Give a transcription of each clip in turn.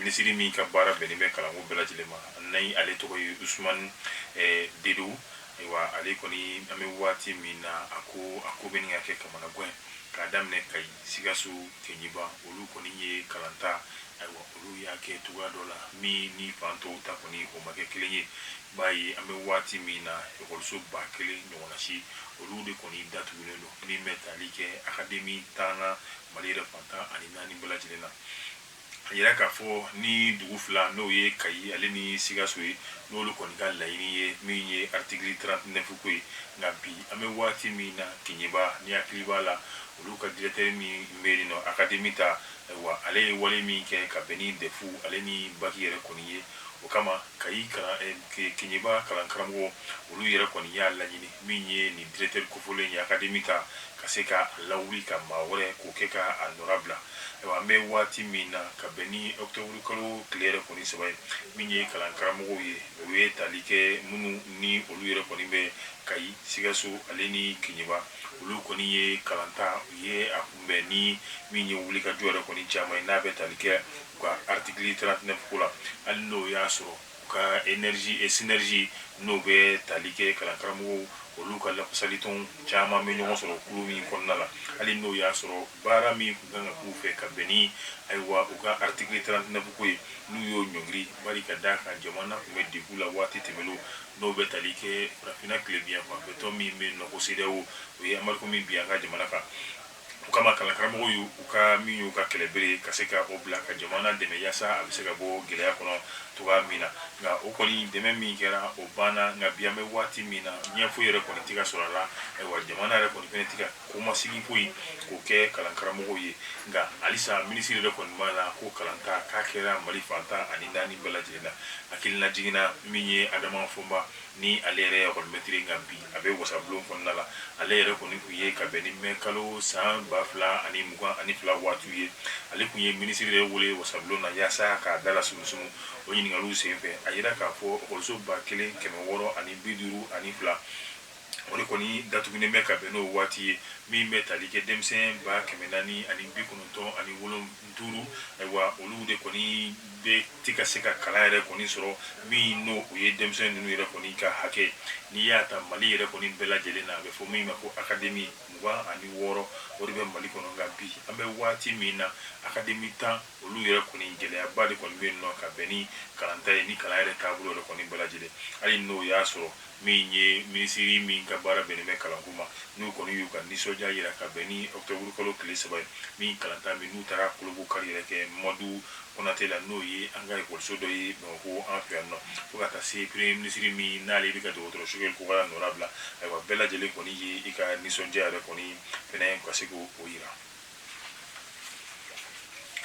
minisiri min ka baara bɛnnen bɛ kalanko bɛɛ lajɛlen ma ni ale tɔgɔ ye usumani eh, dedo ayiwa ale kɔni an bɛ waati min na a ko a ko bɛ ɲini ka kɛ kamanagan k'a daminɛ kayi sikaso keɲeba olu kɔni ye kalan ta ayiwa olu y'a kɛ cogoya dɔ la min ni fan tɔw ta kɔni o ma kɛ kelen ye bi an bɛ waati min na ekɔliso ba kelen ɲɔgɔnna si olu de kɔni datugulen don min bɛ tali kɛ akademi tan mali yɛrɛ fan tan ani naani bɛɛ lajɛlen na a yira k'a fɔ ni dugu fila n'o ye kayi ale ni sikaso ye n'olu kɔni ka laɲini ye min ye artikili 39 ko ye nka bi an bɛ waati min na keɲeba n'i hakili b'a la olu ka dirɛkitɛri min bɛ yen nɔ akademi ta ayiwa ale ye wale min kɛ ka bɛn ni dɛfu ale ni baki yɛrɛ kɔni ye O kama kayi keɲeba kalankaramɔgɔ olu yɛrɛ kɔni y'a laɲini min ye nin dirɛkitɛri kofɔlen ye akademi ta ka se ka a lawuli ka maa wɛrɛ k'o kɛ ka a nɔra bila ayiwa an bɛ waati min na ka bɛn ni ɔkutɔburukalo tile yɛrɛ kɔni saba ye min ye kalankaramɔgɔw ye o ye tali kɛ minnu ni olu yɛrɛ kɔni bɛ kayi sikaso ale ni keɲeba olu kɔni ye kalan ta u ye a kunbɛn ni min ye wulikajɔ yɛrɛ kɔni caman ye n'a bɛ tali kɛ U ka artikili 39 ko la hali n'o y'a sɔrɔ u ka sinɛrizi n'o bɛ tali kɛ kalankaramɔgɔw olu ka lafasalitɔn caman bɛ ɲɔgɔn sɔrɔ kulu min kɔnɔna la hali n'o y'a sɔrɔ baara min tun kan ka k'u fɛ ka bɛn ni ayiwa u ka artikili 39 ko ye n'u y'o ɲɔngiri bari ka d'a kan jamana tun bɛ degun la waati tɛmɛlenw n'o bɛ tali kɛ farafinna tilebinyanfan tɔn min bɛ nɔ ko sedeyawo o ye anbarigo min bin an ka jamana kan O kama kalankaramɔgɔw y'u ka min y'u ka kɛlɛbere ka se ka o bila ka jamana dɛmɛ yaasa a bɛ se ka bɔ gɛlɛya kɔnɔ cogoya min na nka o kɔni dɛmɛ min kɛra o banna nka bi an bɛ waati min na ɲɛ foyi yɛrɛ kɔni tɛ ka sɔrɔ a la ayiwa jamana yɛrɛ kɔni fɛnɛ tɛ ka kɔmasegin foyi k'o kɛ kalankaramɔgɔw ye nka halisa minisiri yɛrɛ kɔni b'a la ko kalanta k'a kɛra mali fan tan ani naani bɛɛ lajɛlen na hakililajigin na min ye adama fɔnba ni ale yɛrɛ ye ekɔlimɛtiri nka bi a bɛ wasabulon kɔnɔna la ale yɛrɛ kɔni tun ye ka bɛn ni mɛ kalo san ba fila ani mugan ani fila waatiw ye ale tun ye minisiri yɛrɛ wele wasabulon na yaasa k'a dala sumusumu o ɲininkaliw senfɛ a yira k'a fɔ ekɔliso ba kelen kɛmɛ wɔɔrɔ ani bi duuru ani fila o de kɔni datugunen bɛ ka bɛn n'o waati ye min bɛ tali kɛ denmisɛn ba kɛmɛ naani ani bi kɔnɔntɔn ani wolon duuru ayiwa olu de kɔni bɛ ti ka se ka kalan yɛrɛ kɔni sɔrɔ min n'o o ye denmisɛn ninnu yɛrɛ kɔni ka hakɛ n'i y'a ta mali yɛrɛ kɔni bɛɛ lajɛlen na a bɛ fɔ min ma ko akademi mugan ani wɔɔrɔ o de bɛ mali kɔnɔ nka bi an bɛ waati min na akademi tan olu yɛrɛ kɔni gɛlɛyaba de kɔni bɛ nɔ ka bɛn ni kalanta ye ni kalan yɛrɛ taabolo yɛrɛ kɔni bɛɛ lajɛlen hali n'o y'a sɔrɔ min ye minisiri min ka baara bɛnnen bɛ kalanko ma n'u kɔni y'u ka nisɔndiya yira ka bɛn ni ɔkutɔburu kalo tile saba ye min kalanta min n'u taara kolobo kari yɛrɛ kɛ mamadu konate la n'o ye an ka ekɔliso dɔ ye bamakɔ an fɛ yan nɔ fo ka taa se premier minisiri min n'ale bɛ ka dɔgɔtɔrɔ sogɛli kokala nɔra bila ayiwa bɛɛ lajɛlen kɔni ye i ka nisɔndiya yɛrɛ kɔni fɛnɛ ka se k'o yira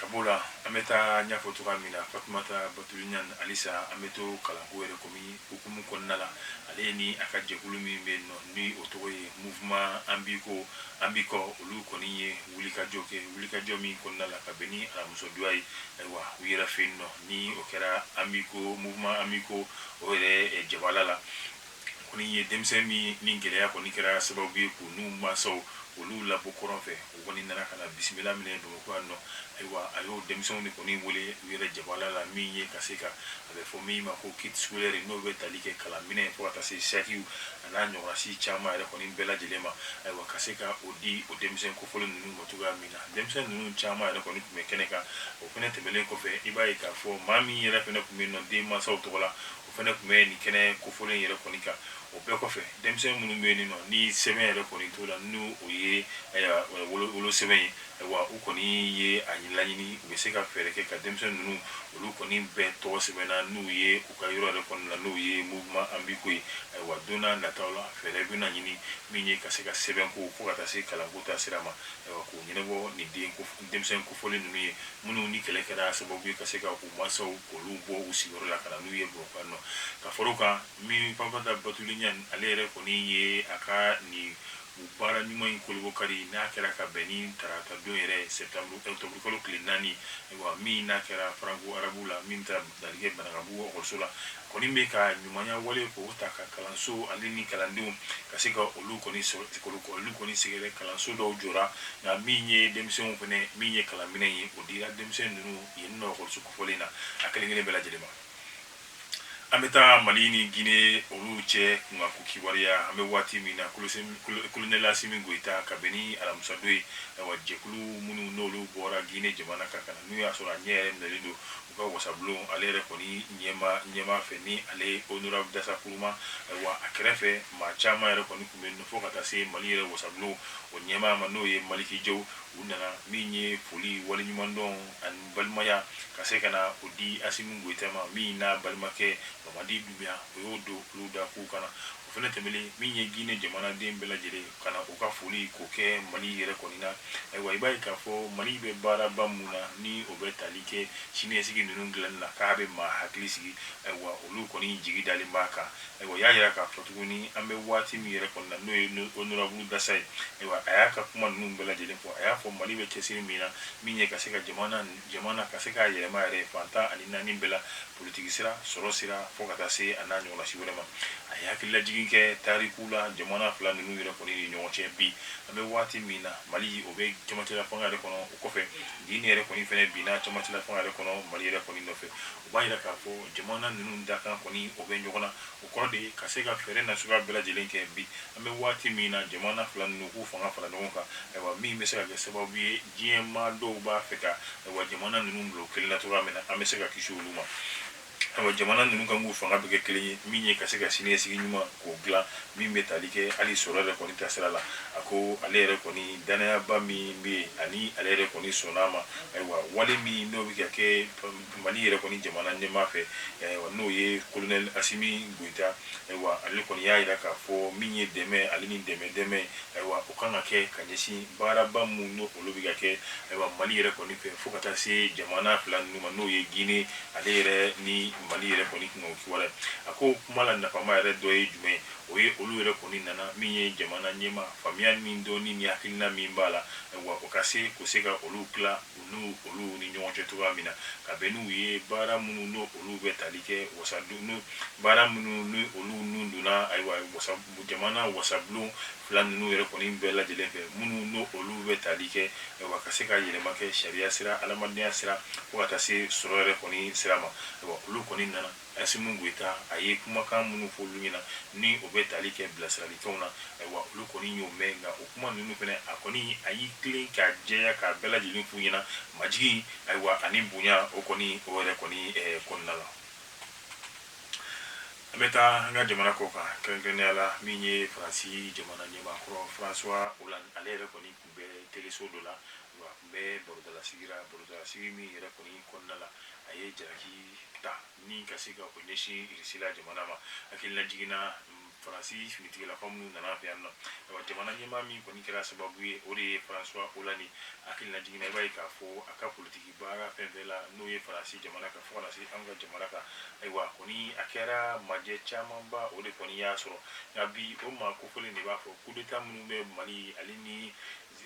ka b'o la an bɛ taa n y'a fɔ cogoya min na fatumata batuli ɲan halisa an bɛ to kalanko yɛrɛ komi hukumu kɔnɔna la ale ni a ka jɛkulu min bɛ yen nɔ ni o tɔgɔ ye mouvement an b'i ko an b'i kɔ olu kɔni ye wulikajɔ kɛ wulikajɔ min kɔnɔna la ka bɛn ni alamisa don ye ayiwa u yɛrɛ fɛ yen nɔ ni o kɛra an b'i ko mouvement an b'i ko o yɛrɛ jabala la kɔni ye denmisɛn min ni gɛlɛya kɔni kɛra sababu ye k'u n'u mansaw olu labɔ kɔrɔn fɛ, o kɔni nana ka na bisimila minɛ Bamakɔ yan nɔ. Ayiwa, a y'o denmisɛnw de kɔni wele u yɛrɛ jabala la, min ye ka se ka, a bɛ fɔ min ma ko kit scolaire, n'o bɛ tali kɛ kalan minɛn fo ka taa se sakiw a n'a ɲɔgɔnna caman yɛrɛ kɔni bɛɛ lajɛlen ma. Ayiwa, ka se ka o di o denmisɛn kofɔlen ninnu ma cogoya min na. Denmisɛn ninnu caman yɛrɛ kɔni tun bɛ kɛnɛ kan. O fɛnɛ tɛmɛlen kɔfɛ, i b'a ye k'a fɔ maa min yɛrɛ fɛnɛ tun bɛ yen nɔ den mansaw tɔgɔ la, o fɛnɛ tun bɛ nin kɛnɛ kofɔlen yɛrɛ kɔni kan o bɛɛ kɔfɛ denmisɛn minnu bɛ yen nɔ ni sɛbɛn yɛrɛ kɔni t'o la n'o o ye wolo sɛbɛn ye ayiwa u kɔni ye a laɲini u bɛ se ka fɛɛrɛ kɛ ka denmisɛn ninnu olu kɔni bɛɛ tɔgɔ sɛbɛnna n'u ye u ka yɔrɔ yɛrɛ kɔnɔna la n'o ye mouvement an b'i ko ye ayiwa don nataw la fɛɛrɛ bɛna ɲini min ye ka se ka sɛbɛnko fo ka taa se kalanko ta sira ma k'u ɲɛnabɔ nin denmisɛn kofɔlen ninnu ye minnu ni kɛlɛ kɛra sababu ye ka se ka mansaw k'olu bɔ u sigiyɔrɔ la ka na n'u ye Bamakɔ yan nɔ ka fara o kan min Fatumata Batuli Ɲan ale yɛrɛ kɔni ye a ka nin baara ɲuman in kolobo kari n'a kɛra ka bɛn ni tarata don yɛrɛ sɛptanburu octobre kalo tile naani wa min n'a kɛra faranko arabu la min bɛ tali kɛ banankabugu ekɔliso la kɔni bɛ ka ɲumanya wale k'o ta ka kalanso ale ni kalandenw ka se ka olu kɔni olu kɔni sɛgɛrɛ kalanso dɔw jɔra nka min ye denmisɛnw fɛnɛ min ye kalanminɛn ye o dira denmisɛn ninnu yen nɔ ekɔliso kofɔlen na a kelen kelen bɛɛ lajɛlen ma an bɛ taa mali ni gine olu cɛ kunkanko kibaruya an bɛ waati min na kolonɛli asimi goyita ka bɛn ni alamisadon ye ayiwa jɛkulu minnu n'olu bɔra gine jamana kan ka na n'u y'a sɔrɔ a ɲɛ yɛrɛ minɛlen don u ka wasabulon ale yɛrɛ kɔni ɲɛmaa fɛ ni ale honorable dansa kuruma ayiwa a kɛrɛfɛ maa caman yɛrɛ kɔni tun bɛ fo ka taa se mali yɛrɛ wasabulon o ɲɛmaa ma n'o ye maliki jaw u nana min ye foli waleɲumandɔn ani balimaya ka se ka na o di asimi goyita ma min n'a balimakɛ mamadi dumbuya o y'o don olu da k'u ka na o fɛnɛ tɛmɛlen min ye gine jamanaden bɛɛ lajɛlen ka na u ka foli k'o kɛ mali yɛrɛ kɔni na ayiwa i b'a ye k'a fɔ mali bɛ baaraba mun na ni o bɛ tali kɛ siniɲɛsigi ninnu dilanni na k'a bɛ maa hakili sigi ayiwa olu kɔni jigi dalen b'a kan Ayiwa y'a jira k'a fɔ tuguni an bɛ waati min yɛrɛ kɔni na n'o ye honorable dansa ye ayiwa a y'a ka kuma ninnu bɛɛ lajɛlen fɔ a y'a fɔ mali bɛ cɛsiri min na min ye ka se ka jamana jamana ka se k'a yɛlɛma yɛrɛ fantan ani naani bɛɛ la politiki sira sɔrɔ sira fo ka taa se a n'a ɲɔgɔnna si wɛrɛ ma a ye hakililajigin kɛ tariku la jamana fila ninnu yɛrɛ kɔni ni ɲɔgɔn cɛ bi an bɛ waati min na mali o bɛ camancɛlafanga yɛrɛ kɔnɔ o kɔfɛ gine yɛrɛ kɔni fɛnɛ binna camancɛlafanga yɛrɛ kɔnɔ mali yɛrɛ kɔni nɔfɛ O b'a jira k'a fɔ jamana ninnu dakan kɔni o bɛ ɲɔgɔn na o kɔrɔ de ye ka se ka fɛɛrɛ na suguya bɛɛ lajɛlen kɛ bi an bɛ waati min na jamana fila ninnu k'u fanga fara ɲɔgɔn kan ayiwa min bɛ se ka kɛ sababu ye diɲɛ maa dɔw b'a fɛ ka ayiwa jamana ninnu bila kelen na cogoya min na an bɛ se ka kisi olu ma ayiwa jamana ninnu kan k'u fanga bɛɛ kɛ kelen ye min ye ka se ka siniɲɛsigi ɲuman k'o dilan min bɛ tali kɛ hali sɔrɔ yɛrɛ kɔni taasira la a ko ale yɛrɛ kɔni dannayaba min bɛ yen ani ale yɛrɛ kɔni sɔnn'a ma ayiwa wale min n'o bɛ ka kɛ Mali yɛrɛ kɔni jamana ɲɛmaa fɛ ayiwa n'o ye kolonɛli asimi goyita ayiwa ale kɔni y'a jira k'a fɔ min ye dɛmɛ ale ni dɛmɛ dɛmɛ ayiwa o kan ka kɛ ka ɲɛsin baaraba minnu n'o olu bɛ ka kɛ ayiwa mali yɛrɛ kɔni fɛ fo ka taa se jamana fila ninnu ma n'o ye gine ale yɛrɛ ni mali yɛrɛ kɔni tun o kibaruya a ko kuma la nafama yɛrɛ dɔ ye jumɛn o ye olu yɛrɛ kɔni nana min ye jamana ɲɛmaa faamuya min dɔnni ni hakilina min b'a la ayiwa o ka se k'o se ka olu tila n'u olu ni ɲɔgɔn cɛ cogoya min na ka bɛn n'u ye baara minnu n'o olu bɛ tali kɛ wa baara minnu ni olu nun donna ayiwa jamana wasabulon fila ninnu yɛrɛ kɔni bɛɛ lajɛlen fɛ minnu n'o olu bɛ tali kɛ ayiwa ka se ka yɛlɛma kɛ sariya sira adamadenya sira fo ka taa se sɔrɔ yɛrɛ kɔni sira ma ayiwa olu kɔni nana Asimi Goyita, a ye kumakan minnu fɔ olu ɲɛna, ni o bɛ tali kɛ bilasiralikanw na, ayiwa olu kɔni y'o mɛn, nka o kuma ninnu fɛnɛ, a kɔni a y'i tilen k'a jɛya k'a bɛɛ lajɛlen f'u ɲɛna majigin, ayiwa ani bonya, o kɔni o yɛrɛ kɔni kɔnɔna la. An bɛ taa an ka jamana kɔ kan, kɛrɛnkɛrɛnnenya la min ye Faransi jamana ɲɛmaakɔrɔ François Hollande ale yɛrɛ kɔni tun bɛ teleso dɔ la wa a tun bɛ barodalasigi la barodalasigi min yɛrɛ kɔni kɔnɔna la a ye jalaki ta ni ka se ka o ɲɛsin irisila jamana ma hakililajigin na faransi finitigilakaw minnu nana fɛ yan nɔ ayiwa jamana ɲɛmaa min kɔni kɛra sababu ye o de ye François Hollande hakililajigin na i b'a ye k'a fɔ a ka politiki baara fɛn fɛn la n'o ye faransi jamana kan fo ka na se an ka jamana kan ayiwa kɔni a kɛra majɛ camanba o de kɔni y'a sɔrɔ nka bi o maa kofɔlen de b'a fɔ kudeta minnu bɛ mali ale ni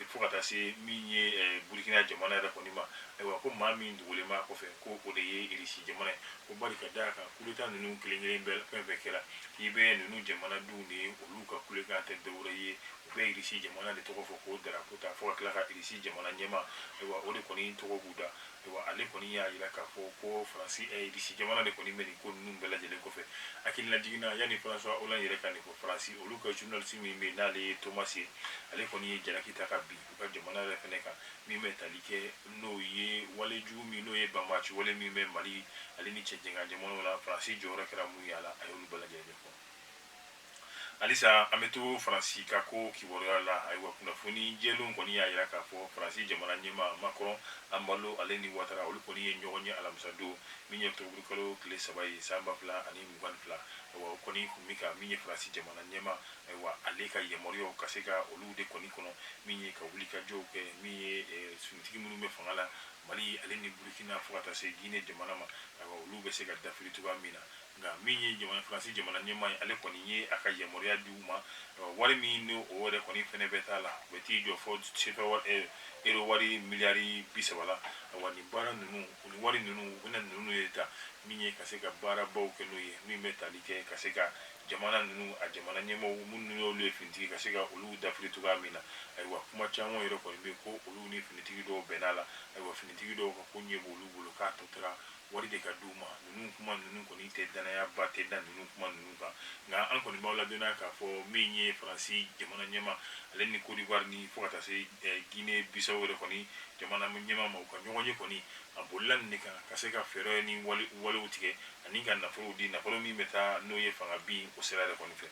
fo ka taa se min ye eh, burukina jamana yɛrɛ kɔni ma ayiwa ko maa min dogolen b'a kɔfɛ ko o de ye irisi jamana ye ko bari ka d'a kan kudeta ninnu kelen kelen bɛɛ fɛn fɛn kɛra i bɛ ninnu jamanadenw de ye olu ka kulekan tɛ dɔwɛrɛ ye u bɛ irisi jamana de tɔgɔ fɔ k'o darapo ta fo ka tila ka irisi jamana ɲɛmaa ayiwa o de kɔni tɔgɔ b'u da ayiwa ale kɔni y'a jira k'a fɔ ko faransi eh, irisi jamana de kɔni bɛ nin ko ninnu bɛɛ lajɛlen kɔfɛ hakilinajigin na yanni faransuwa olan yɛrɛ ka nin fɔ faransi olu ka journaliste min bɛ yen n'ale ye thomas ye ale kɔni ye jalaki ta ka bin u ka jamana yɛrɛ fɛnɛ kan min bɛ tali kɛ n'o ye wale jugu min n'o ye banbaaci wale min bɛ mali ale ni cɛncɛnkan jamanaw la faransi jɔyɔrɔ kɛra mun ye a la a y'olu bɛɛ lajɛlen ɲɛfɔ Halisa an bɛ to Faransi ka ko kibaruya la, ayiwa kunnafoni jɛlenw kɔni y'a jira k'a fɔ Faransi jamana ɲɛmaa Macron, Embalo, ale ni Ouattara olu kɔni ye ɲɔgɔn ye alamisadon min ye ɔkutɔburukalo tile saba ye san ba fila ani mugan ni fila, ayiwa u kɔni tun bɛ ka min ye Faransi jamana ɲɛmaa, ayiwa ale ka yamaruyaw ka se ka olu de kɔni kɔnɔ min ye ka wulikajɔw kɛ min ye finitigi minnu bɛ fanga la Mali ale ni Burukina fo ka taa se Guinee jamana ma, ayiwa olu bɛ se ka dafiri cogoya min na. nka min ye jamana faransi jamana ɲɛmaa ye ale kɔni ye a ka yamaruya di u ma wari min ni o yɛrɛ kɔni fɛnɛ bɛ t'a la o bɛ t'i jɔ fo sefa ero wari miliyari bi saba la wa nin baara ninnu u ni wari ninnu u bɛna ninnu de ta min ye ka se ka baarabaw kɛ n'o ye min bɛ tali kɛ ka se ka jamana ninnu a jamana ɲɛmaaw minnu y'olu ye finitigi ka se ka olu dafiri cogoya min na ayiwa kuma caman yɛrɛ kɔni bɛ ko olu ni finitigi dɔw bɛnn'a la ayiwa finitigi dɔw ka koɲɛ b'olu bolo k'a tɔ tora wari de ka di u ma ninnu kuma ninnu kɔni tɛ dannayaba tɛ da ninnu kuma ninnu kan nka an kɔni b'aw ladɔnniya k'a fɔ min ye faransi jamana ɲɛmaa ale ni Côte d'Ivoire ni fo ka taa se eh, Guinée Bissau yɛrɛ kɔni jamana ɲɛmaa ma u ka ɲɔgɔnye kɔni a bolila nin de kan ka se ka fɛɛrɛ ni walew tigɛ ani ka nafolo di nafolo min bɛ taa n'o ye fanga bin o sira yɛrɛ kɔni fɛ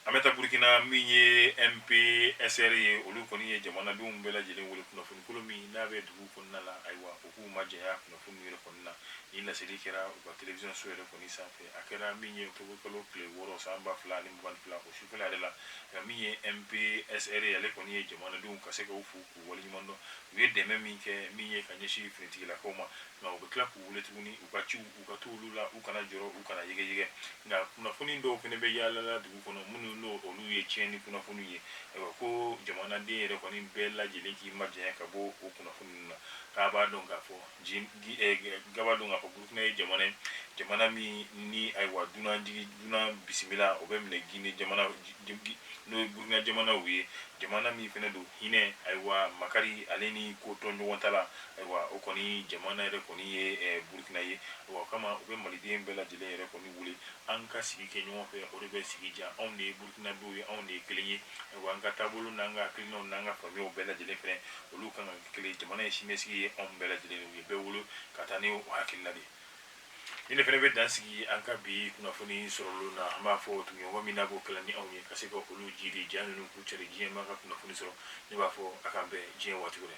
An bɛ taa Burkina min ye MPSR ye, olu kɔni ye jamanadenw bɛɛ lajɛlen wele kunnafoni kolon min n'a bɛ dugu kɔnɔna la, ayiwa u k'u majanya kunnafoni ninnu yɛrɛ kɔni na. Nin laseli kɛra u ka television so yɛrɛ kɔni sanfɛ. A kɛra min ye octobre kalo tile wɔɔrɔ san ba fila ani mugan ni fila o sufɛla yɛrɛ la, nka min ye MPSR ye ale kɔni ye jamanadenw ka se ka u fo, u waleɲuman dɔn u ye dɛmɛ min kɛ min ye ka ɲɛsin finitigilakaw ma nka u bɛ tila k'u wele tuguni u ka ciw u ka to olu la u kana jɔrɔ u kana yɛgɛyɛgɛ nka kunnafoni dɔw fɛnɛ bɛ yaalala dugu kɔnɔ minnu n'o olu ye tiɲɛni kunnafoni ye ayiwa ko jamanaden yɛrɛ kɔni bɛɛ lajɛlen k'i majanya ka bɔ o kunnafoni ninnu na k'a b'a dɔn k'a fɔ k'a b'a dɔn k'a fɔ burukina ye jamana ye jamana min ni ayiwa dunanjigi dunan bisimila o bɛ minɛ gine jamana n'o ye burukina jamanaw ye jamana min fɛnɛ don hinɛ ayiwa makari ale ni kotoɲɔgɔntala ayiwa o kɔni jamana yɛrɛ kɔni ye burukina ye o kama u bɛ maliden bɛɛ lajɛlen yɛrɛ kɔni wele an ka sigi kɛ ɲɔgɔn fɛ o de bɛ sigi diya anw de ye burukina dɔw ye anw de ye kelen ye ayiwa an ka taabolo n'an ka hakilinaw n'an ka faamuyaw bɛɛ lajɛlen fɛnɛ olu kan ka kelen jamana ye siniɲɛsigi ye anw bɛɛ lajɛlen u ye bɛɛ bolo ka taa ni hakilina de ye ne fɛnɛ bɛ dan sigi an ka bi kunnafoni sɔrɔlen na an b'a fɔ tuguɲɔgɔn min na b'o kalan ni anw ye ka se ka olu jira ja ninnu k'u cari diɲɛ maa ka kunnafoni sɔrɔ ne b'a fɔ a k'an bɛn diɲɛ waati wɛrɛ